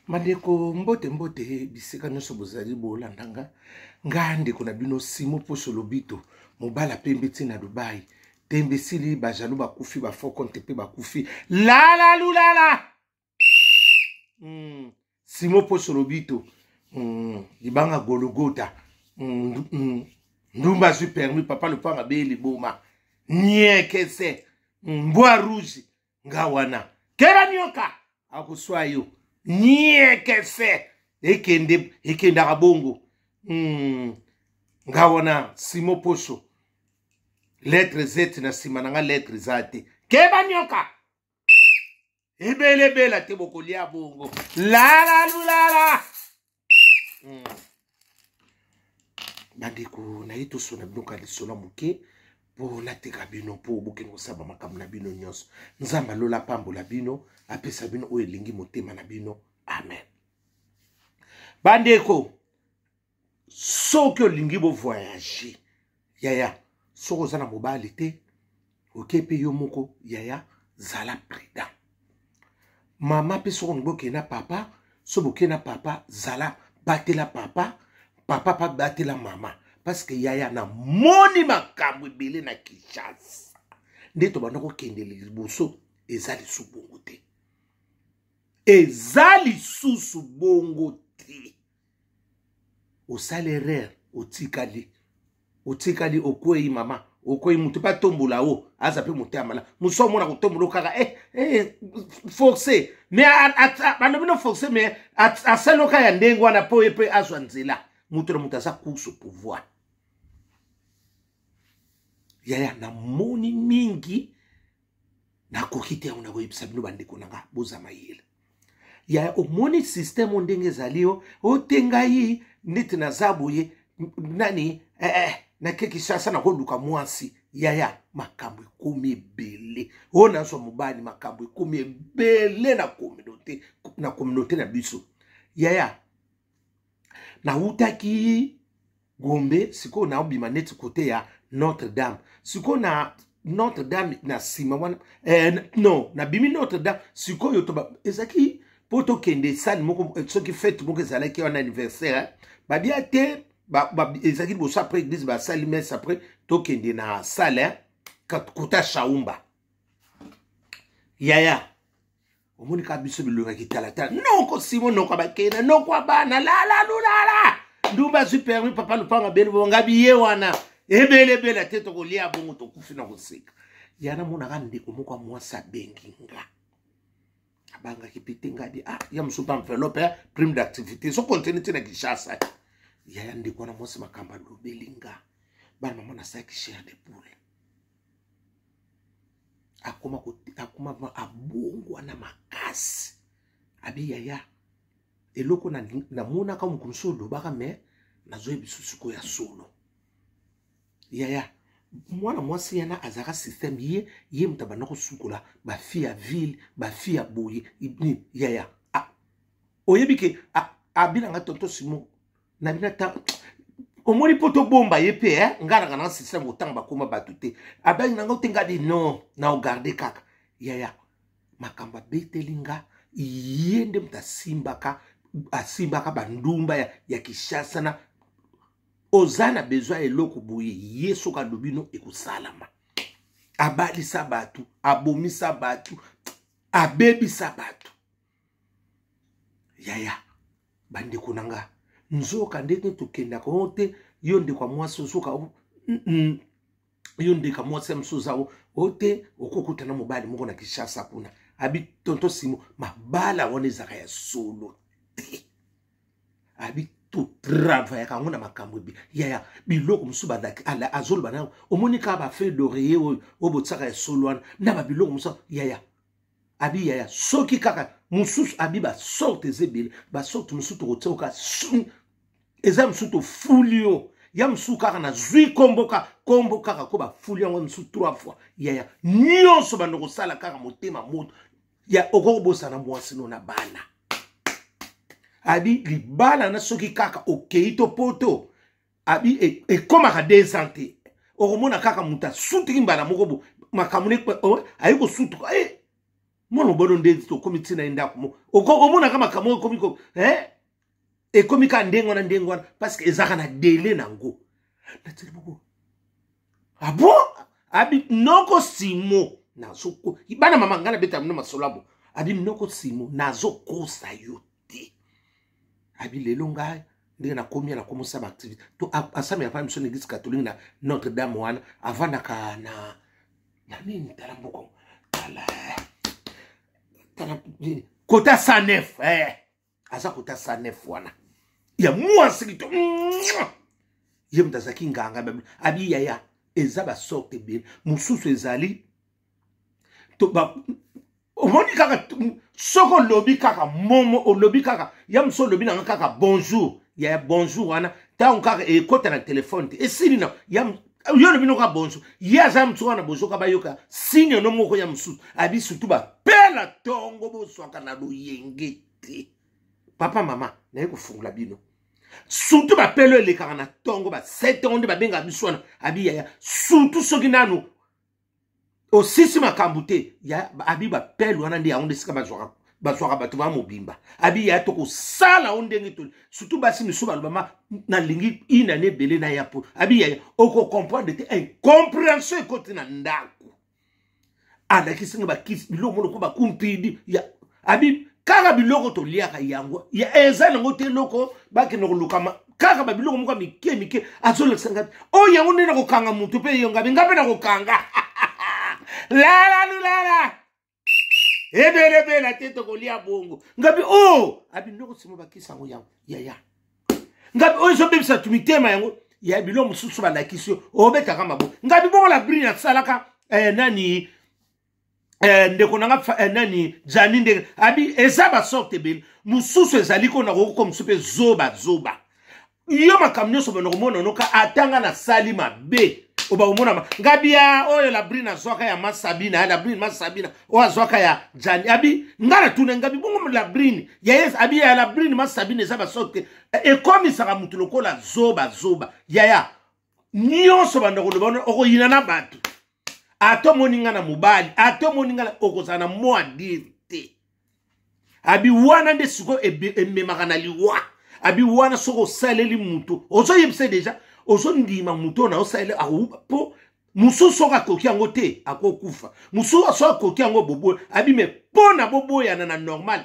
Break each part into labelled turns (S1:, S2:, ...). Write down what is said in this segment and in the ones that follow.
S1: Bandeko mbote mbote bisika nyonso bozali bolanda nga nga ndeko na bino Simo Poso Lobito mobala pembe ti na Dubai tembe sili bajaloux bakufi bafaux compte mpe bakufi lalalulala mm. Simo Poso Lobito mm. libanga gologota mm. Mm. ndumba azwi permis papa lopanga beye liboma niekese mm. mbwa rouge nga wana kela nioka akoswa yo nieke fe ekende ekendaka bongo hmm. nga wana simo poso lettre z na nsima na nga lettre eza te keba nioka ebelebela te bokolia bongo lalalulala hmm. bandeko naye tosona bino ka lisolo moke mpo nateka bino mpo bokende kosaba makambo na bino nyonso nzambe alola apambola bino apesa bino oyo elingi motema na bino amen bandeko soki olingi bovoyage yaya soki oza na mobali te oke mpe yo moko yaya zala prudent mama mpe soki olingi okende na papa so boke na papa zala batela papa papa mpe batela mama parceke yaya namoni makambo ebele na kinshasa nde tobanda kokende liboso eza lisusu bongo te eza lisusu bongo te osala erreur otikali otikali okwei mama okwei moto mpe atombola o aza mpe moto ya mala mosu omona kotombola o kaka eh, eh, force me balobi no force me asali oka ya ndenge wana mpo ye mpe azwa nzela moto na moto aza course pouvoir yaya namoni mingi nakoki te yango nakoyebisa bino bandeko na nga boza mayele ya omoni systeme oyo ndenge ezali yo ote ngai neti naza boye nani eh, eh, nake kisasa nakoluka mwasi yaya makambo ekomi ebele oyo nazwa mobali makambo ekomi ebele na communauté na communauté na biso yaya nawutaki Gombe sikoyo naobima neti kote ya Notre Dame sikoyo na Notre Dame na nsima wana eh, non nabimi Notre Dame sikoyo toba ezalaki mpo tokende sani moko eh, soki fete moko ezalaki wana anniversaire eh? babia te ba, ba, ezalaki liboso après église basali messe après tokende na salle eh? kota shaumba yaya omoni kaka biso bilonga kitalatala noko simo noko abakena noko abana lalalulala ndumba azwi permi papa lupanga beni bonga biye wana ebelebela te tokolia bongo tokufi na koseka yana monaka ndeko moko ya mwasi abengi nga abangaki mpe te ngadi ah, ya mosusu mpe enveloppe ya prime d'activité so continue te na kinshasa yaya ndeko wana mwasi makambo alobeli nga bana mama nasalaki chair de poule akoma akoma abongwana makasi abi yaya eloko namonaka na mokonzi oyo olobaka me nazoyebi susuko ya solo yaya mwana mwasi yana azalaka systeme ye ye moto abanda kosukola bafi ya ville bafi ya boye yaya ah, oyebi ke ah, abinanga tonto simon na bino ata omoni mpo tobomba ye mpe eh? ngai nanga na système kotanga bakoma bato te abali na ngai te ngai de non na ogarde kaka yaya makambo abeteli nga ye nde moto asimbaka asimbaka bandumba ya, ya kishasa na oza na bezwi ya eloko boye ye soki alobi no ekosalama abalisa bato abomisa bato abebisa bato yaya bandeko na nga nzoka nde te tokendaka o te yo ndeko ya mwasi ozoka yo ndeko ya mwasi ya mosusu oza o te okokuta na mobali moko na kinshasa kuna abi tonto simo mabala wana ezalaka ya solo te abi totravayaka yango na makambo ebe yaya biloko mosusu azoloba na yango omoni kaka bafeuille d'oreiller oyo oyo botisaka ya solo wana na babiloko mosusu yaya abi yaya soki kaka mosusu abi basorte eza ebele basorte mosusu tokotia kaka eza mosusu tofuli yo ya mosusu kaka nazwi nkombo kaka nkombo kaka ko bafuli yango mosusu trois fois yaya nyonso bando kosala kaka motema moto ya okoki kobosana mwasi no na bana abi libala na soki kaka okei to poto abi e, ekomaka e deux ans te okomona kaka moto asutiki mbala moko bo makambo ne oh, aye kosutuka e eh, mwana mobolo nde tokomi ntina ye ndako mo omonaka makambo oyo ekomi ko eh, ekomi kaka ndenge wana ndenge wana parce que ezalaka na dele na yango natili boko abo ah abi noko simo nazoko bana mama ngai nabeta mino masolo abo abi noko simo nazokosa yo te abi lelo ngai ndenge nakomi na komi osala baactivité to asami apana biso na église catholique na notre dame wana avandaka na na nini tala mboko tala tala kota 109 eh. aza kota 109 wana ya mwasi kito ye moto azalaki nganga abi yaya eza basorte ebele mosusu ezali omoni kaka soko olobi kaka momo olobi kaka ya mosu olobi nanga kaka bonjour ya bonjour wana ntango kaka ekota na telefone te esili na ya yo olobi noka bonjour ye aza ya mosusu wana bozoka bayoka signe no moko ya mosusu abi surtout bapela ntongo bozwaka na loyenge te papa mama naye kofungola bino surtout bapelo elekaka na ntongo ba 7 ans nde babengaka biso wana abi yaya surtout soki nanu osisi makambo te ya abi bapele wana nde yango nde esika bazwaka bazwaka bato ba mobimba abi ya tokosala o ndenge toli surtout basi misusu balobama nalingi ina ne ebele na ya po abi yaya okocomprendre te incomprehension ekoti na ndako alakisi nga bakisi biloko monoko bakumpidi ya abi kaka biloko toliaka yango eza nango te eloko bakende kolukama kaka babiloko moko ya mike mike azolakisa ngai oyo yango nde nakokanga motu mpe eyo ngabi ngai mpe nakokanga lalalulala ebelebela te tokolia bongo ngabi o oh! abinoko sima bakisa yango yango yaya ngabi oyo ezobebisa tu mitema yango ya biloko mosusu balakisi yo obetaka mabo ngabi bongo labri nasalaka eh, nani eh, ndeko na nga eh, nani jani ndenge abi eza basorte ebele mosusu ezali ko nakoki ko mosusu mpe zoba zoba yo makambo nyonso bana komona noka atanga nasali mabe oba komonama nga bia oyo labrine azwaka ya masabina labrine masabina oyo azwaka ya jani abi nga natuna nga bibongo labrine yayes abi ya labrine masabina eza basorte te eh, ekomisaka motu lokola zoba zoba yaya nyonso banda koloba wana okoyina na bato ata omoni nga na mobali ata omoni nga okozala na mwa dire te abi wana nde sikoyo ememaka na liwa abi wana soki osaleli moto ozoyebisa deja ozondima moto oyo naosaleli akouba mpo mosusu soki akoki yango te akokufa mosusu soki akoki yango boboya abi me mpo na boboyana na normal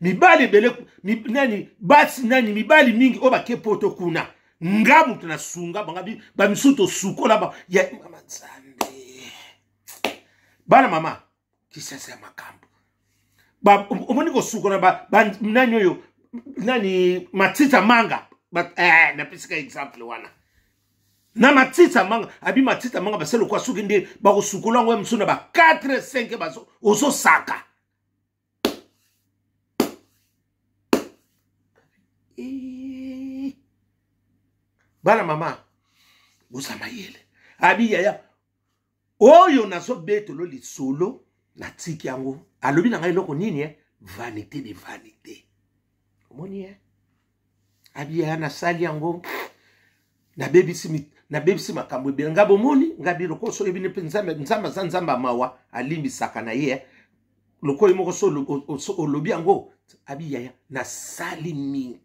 S1: mibali ebele nani basi nani mibali mingi oyo bake poto kuna nga moto nasunga banga bamisusu tosukola ba ya mama nzambe bana mama kisasa ya makambo omoni kosukola nani oyo nani matita manga eh, napesika exemple wana na matita manga abi matita manga basali lokwa soki nde bakosukola yango ya mosusu na ba 4 5 ozosaka bana mama boza mayele abi yaya oyo nazobetolo lisolo natiki yango alobi na ngai eloko nini eh? vanité de vanité omoni eh? abiya nasali yango nabebisi nabebisi makambo ebele nga bomoni nga bi lokola so oyebi mpe nzambe nzambe aza nzambe ya mawa alimbisaka na ye eh. lokola ye moko so olobi yango abi yaya nasali mingi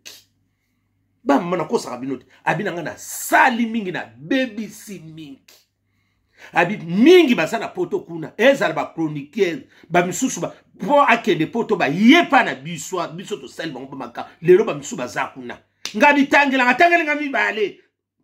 S1: bamama nakosaka bino te abi na ngai nasali mingi nabebisi mingi abi mingi baza na poto kuna ezala bachroniqueur bamisusu ba, mpo akende poto baye mpa na biso biso tosali bango bamaka lelo bamisusu baza kuna nga bitangelanga tangeli nga mibale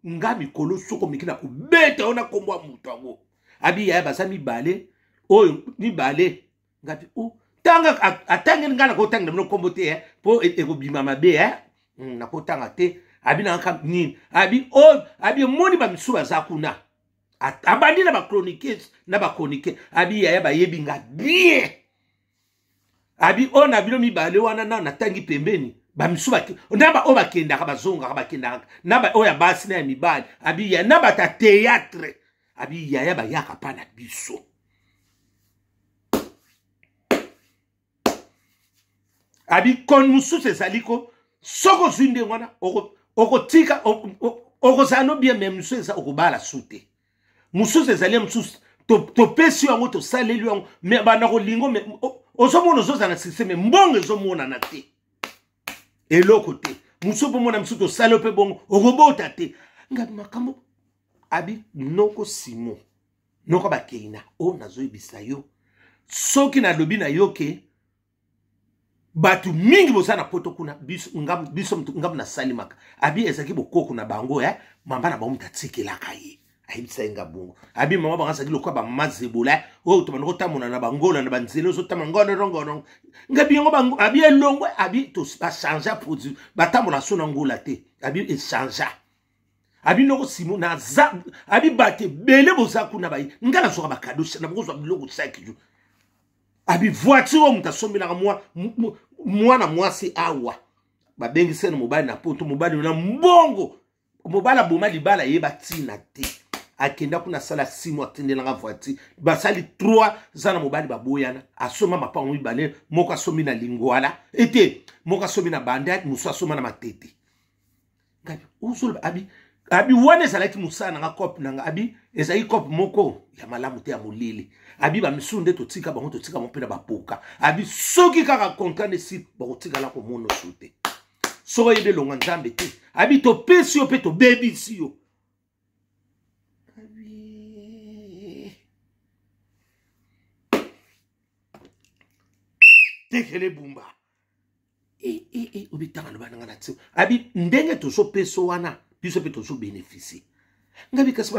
S1: nga mikolo soko miki na kobeta yo na nkombo ya moto yango abi yaya baza mibale oyo mibale nga mpe o oh, tanga atangeli ngai nakotangela bino nkombo te eh, mpo e, ekobima mabe eh. hmm, nakotanga te abi nangaka nini abi oyo oh, abi emoni bamisu baza kuna abandi na bachroniques na bachronique abi yaya bayebi nga bien abi oyo oh, na bino mibale wana na natangi pembeni bamisu na baoyo bakendaka bazongaka bakendaka na baoyo ya basi na ya mibali abi ya na bata théâtre abi yaya bayaka mpa na biso abi koni mosusu ezali ko soki ozwi ndenge wana okotika okozala no bien me mosusu eza okobala su te mosusu ezali ya mosusu topesi yo yango tosaleli yango me banda kolingo me ozomona ozozala na systeme mbongo ezomonana te eloko te mosusu mpo mona mosusu tosali yo mpe bongo okobota te ngai makambo abi noko simon noko bakei na o oh, nazoyebisa yo soki nalobi na yo ke bato mingi boza na poto kuna biso ngambo nasalimaka abi ezalaki bokoko na bango ya eh? mama na bango moto atikelaka ye ayebisaki nga bongo abi mama bango azalaki lokola bamama zebola eh? oyo oh, tobanda kotambola na bangola na banzela ozotamba ngonorongono ngabi yango bango abi elongwe abi bachangea produit batambola so na ngola te abi echangea abi noko simo naza abi bato ebele boza kuna baye ngai nazwaka bakado nabokozwa biloko saki jo abi voiture oyo moto asombelaka mwana mwasi awa babengisani mobali na poto mobali na mbongo mobali aboma libala ye batina te akenda kuna asala simo atindelanga voiture basali 3 za na mobali baboyana asomba mapango mibale moko asombi na lingwala ete moko asombi na bandaki mosusu asomba na matete ngabi osoloba abi abi wana ezalaki mosala na nga cope na nga abi ezalaki cope moko ya malamu te ya molili abi bamisusu nde totika bango totika bango mpe na bapoka abi soki kaka kontra nde si bakotikala komona osu te soki oyebi elonga nzambe te abi topesi yo mpe tobebisi yo tekele bumba eh, eh, eh, obitanga loba na nga na tio abi ndenge tozopeso wana biso mpe tozobenefisie ngai bikasi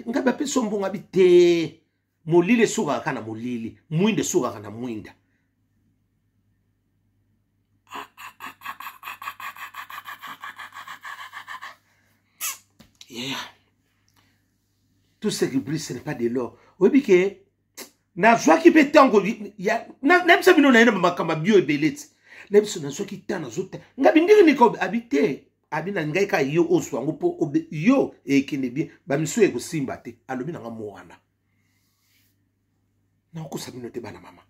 S1: ngai bapeso mbongo abi te molili esukaka ka na molili mwinda esukaka na mwinda yeah. tout ce qui brille ce n'est pas de l'or oyebi ke nazwaki mpe ntango nayebisa bino naye na makambo ya bio ebele ti na biso nazwaki ntango nazota nga bindiri nikobe abi te abi na ngai kaka yo ozwa yango mpo yo ekende bien bamisu ekosimba te alobi na nga mowana nakokosa bino te bana mama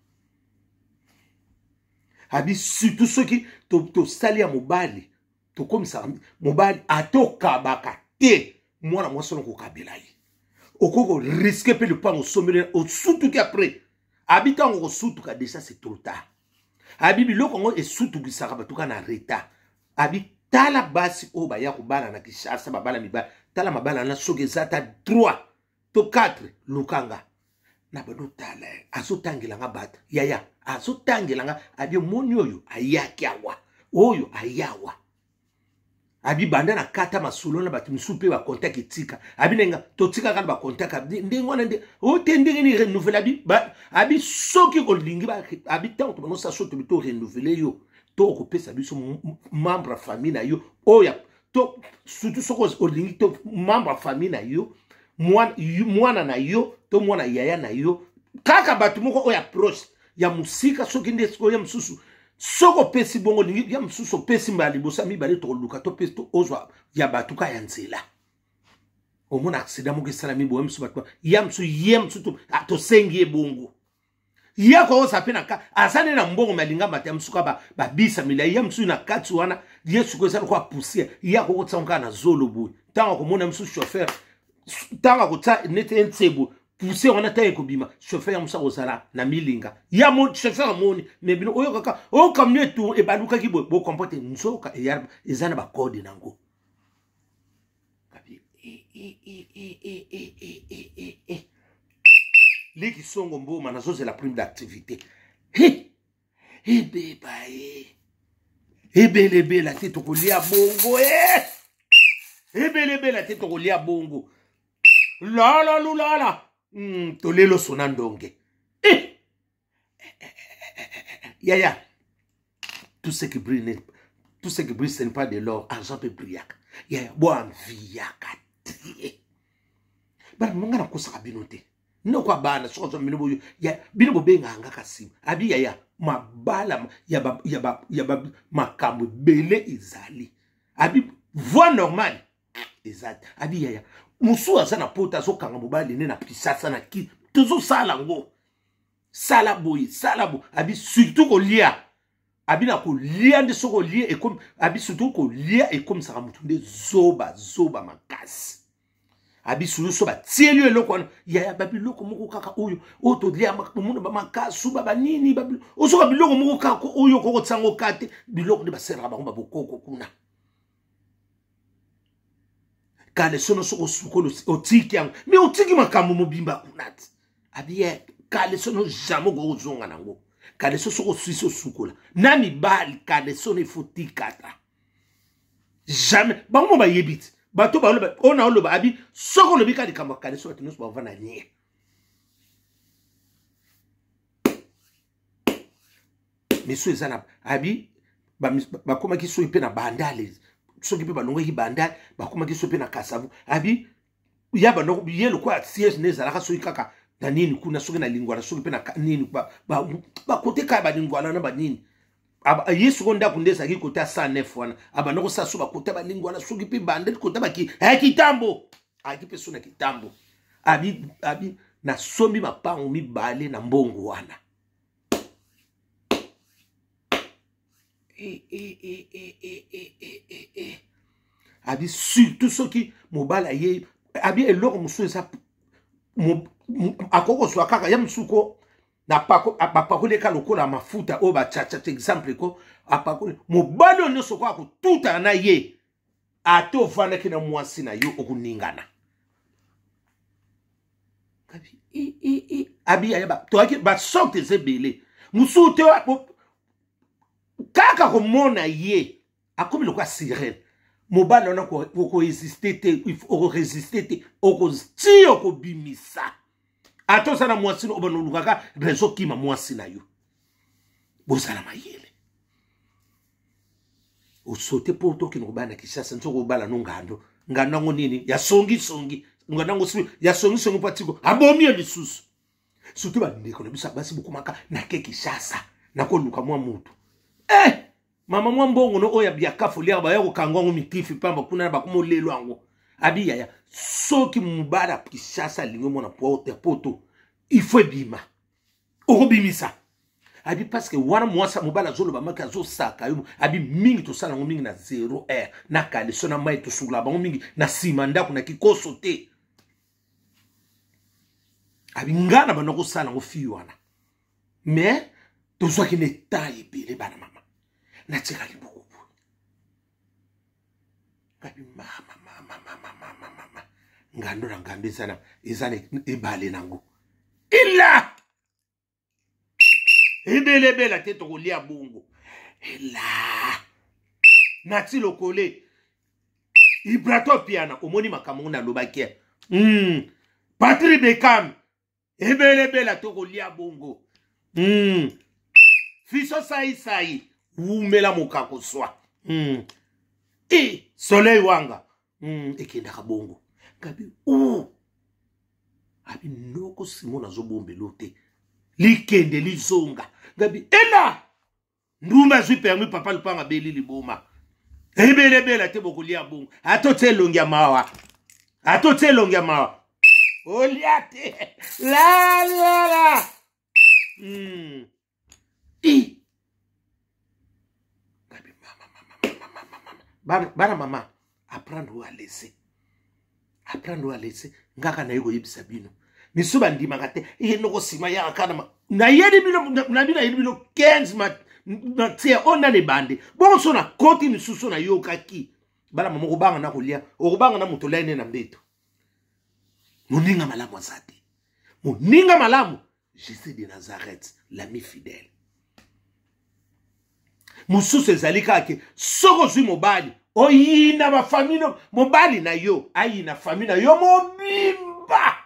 S1: abi surtout soki tosali to ya mobali tokomisaka mobali ata okabaka te mwana mwasi wana kokabela ye okoki koriske mpe lopango osombeli osutuki apres abi ntango kosutuka deja se trop tard abi biloko yango esutukisaka bato kaka na retard abi tala basi oyo baya kobala na kishasa babala mibali tala mabala na soki eza ata droit to 4 lukanga na bando tala ye azotangela nga bata yaya azotangela nga abi omoni oyo ayaki awa oyo ayawa abi banda na kata masolo na bato mosusu mpe bakontak etika abi na nga totikaka na bakontak ndenge wana nde ote oh, ndenge ni renouvele abi abi soki kolingi abi ntango tobango saso tobi to renouvele yo to okopesa biso membre ya famille na yo oyo to surtout soki olingi to membre ya famille na yo mwana na yo to mwana yaya na yo kaka bato moko oyo approche ya mosika soki nde sikoyo ya mosusu soki opesi bongo olingi ya mosusu opesi mbala liboso ya mibale tokoluka topesi to ozwa ya bato ka ya nzela omona aksida moko esalami boye mosusu bato ya mosusu ye mosusu tosengi ye bongo ye akoyosa mpe na kati aza nde na mbongo me alinga mata ya mosusu kaka babisa milai ya mosusu na kati wana ye suku eza lokola poussière ye akokotisa ngo kaka na zolo boye ntango akomona mosusu chauffeur ntango akotisa neti ense boye poussière wana ntango ekobima chauffeur ya mosusu akozala na milinga ye chauffeur amoni me bino oyokaka oyo kamio etu ebalukaki boye bokompote nzoka eza na bakode na yango kabi liki songo mboma nazozela prime d'activité ebeba e ebelebela te tokolia bongo e ebelebela te tokolia bongo lala lulala mm, tolelo sona ndonge yaya tout ce qui brille n'est tout ce qui brille ce n'est pas de l'or argent mpe brillaka yaya boanviyaka te bana mama ngai nakosaka bino te noko ya bana soki ozwa bino boyo bino bobengaka nga kasi abi yaya mabala ya makambo ebele ezali abi voie normale eza te abi yaya mosusu aza na pota azokanga mobali ne na kisasa na ki tozosala yango sala boye sala boye abi surtout kolia abi na kolia nde soki olie ekomi abi surtout kolia ekomisaka motu nde zoba zoba makasi abi surtout so batieli yo eloko wana yaya babiloko moko kaka oyo oyo tolia omona bamakasu babanini ozoka biloko moko kaka oyo okokotisango ka te biloko nde basalaka bango babokoko kuna kalesono soki osukoli otiki yango me otiki makambo mobimba kuna ti abiye kalesono jamai okoki kozonga nango kaleso soki oswisi osukola na mibali kalesono ifo tikata jamais bango mo bayebi ti bato baoloba oyo na oloba abi soki olobi ka likambo ya kaleso bato nyonso bavanda nie misu eza na abi bakomaki soki mpe na bandale soki mpe balongaki bandale bakomaki soki mpe na kasavu abi ya bandoko ye lokola siège nde ezalaka soki kaka na nini kuna soki na lingwala soki mpe na nini bakote kaka balingwala na banini ye soko ndako nde ezalaki kota 109 wana abanda kosala so bakota balingi wana soki mpe bande kota baki aya kitambo ayaki mpe so na kitambo abi abi nasombi mapango mibale na mbongo wana e, e, e, abi surtout soki mobali ayei abi eloko mosusu eza akoki kozwa kaka ya mosusu ko bapakoli eka lokola mafuta oyo bachachata exemple ko apakoli mobali oyo nyonso okoka kotutana na ye ata ovandaki na mwasi na yo okoningana abiyaya toyaki basorte eza ebele mosusu te kaka komona ye akomi lokola sirene mobali wana okoexiste te okoresiste te okosi okobimisa ata oza na mwasi obanda olukaka rezo kima mwasi na yo bozala mayele osote mpo tokende kobala na kishasa nso kobala no ngando ngando yango nini ya songisongi ngando yango ya songisongi mpo atiko abomi ye lisusu surtout bandeko na biso basi bokomaka nake kishasa nakoluka mwa motu eh! mama mwa mbongo no oyo ya biakafu liaka baya kokanga yango mikifi mpamba kuna na bakoma olelo yango abi yaya soki mobali ya kinshasa alingi omona porte poto il faut ebima okobimisa abi parce que wana mwasi mobali azoloba maki azosaka yo abi mingi tosala yango mingi na 0 r na kaleso na mai tosukola bango mingi na nsima ndako na kikoso te abi ngai na banda kosala yango fii wana mais tozwaki na etat ebele bana mama natikali buku boye ngabi mamamamamamamama ngando na ngando eza na eza na ebale nango ila ebelebela te tokolia bongo ela nati lokole ibrato piana omoni makambo ngo nalobaki mm. patri bekam ebele bela tokolia bongo mm. fiso saisai wumela mokako swa mm. e soleil wanga mm. ekendaka bongo kabi uh. abi noko simon azobombelo te likende lizonga gabi ela ndumba azwi permis papa lupanga abeli liboma ebelebela te bokolia bongo ata otya elongi ya mawa ata otya elongi ya mawa olia te lalala mm. bana mama apprendre oyo alese apprendre oyo alese ngaka naye koyebisa bino misu bandimaka te ye noko nsima yaka kana nayeli bino na bino nayeli bino 15 matière oyo nani ebande bongo so nakoti misusu nayokaki bala mama okobanga na kolia okobanga na moto olai ne na mbeto moninga malamu aza te moninga malamu jesus de nazareth l'ami fidèle mosusu ezali kaka ke soki ozwi mobali oyina bafami no mobali na yo ayina fami na yo mobimba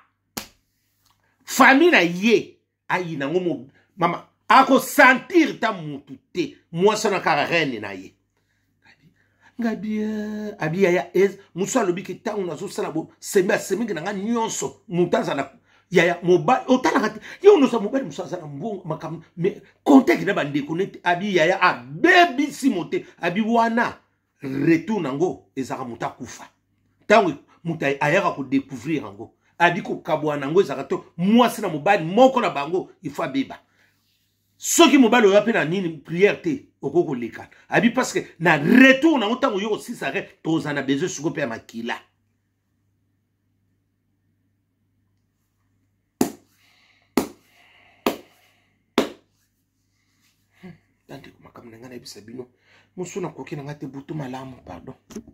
S1: fami na ye ayina yango mama akosantire ta motu te mwasi wana kaka rene na ye ngabi eh, abi yaya eh, mosu alobi ke ntango nazosala bo sembe asemeki na ngai nyonso moto azala yaya mobali otalaka te ye onosa mobali mosu aza na mbongo makambo me contake na bandeko nete abi yaya abebisi mote abi wana retour na yango ezalaka moto akufa ntango moto ayaka kodecouvrir yango abi kokabwana yango ezalaka to mwasi na mobali moko na bango ifo abeba soki mobali oya mpe na nini prière te okoki koleka abi parce que na retour nango ntango oyo kosisa re toza na besoin siko mpe ya makila bandeko makambo na ngai nayebisa bino mosu nakoki na ngai te butu malamu pardon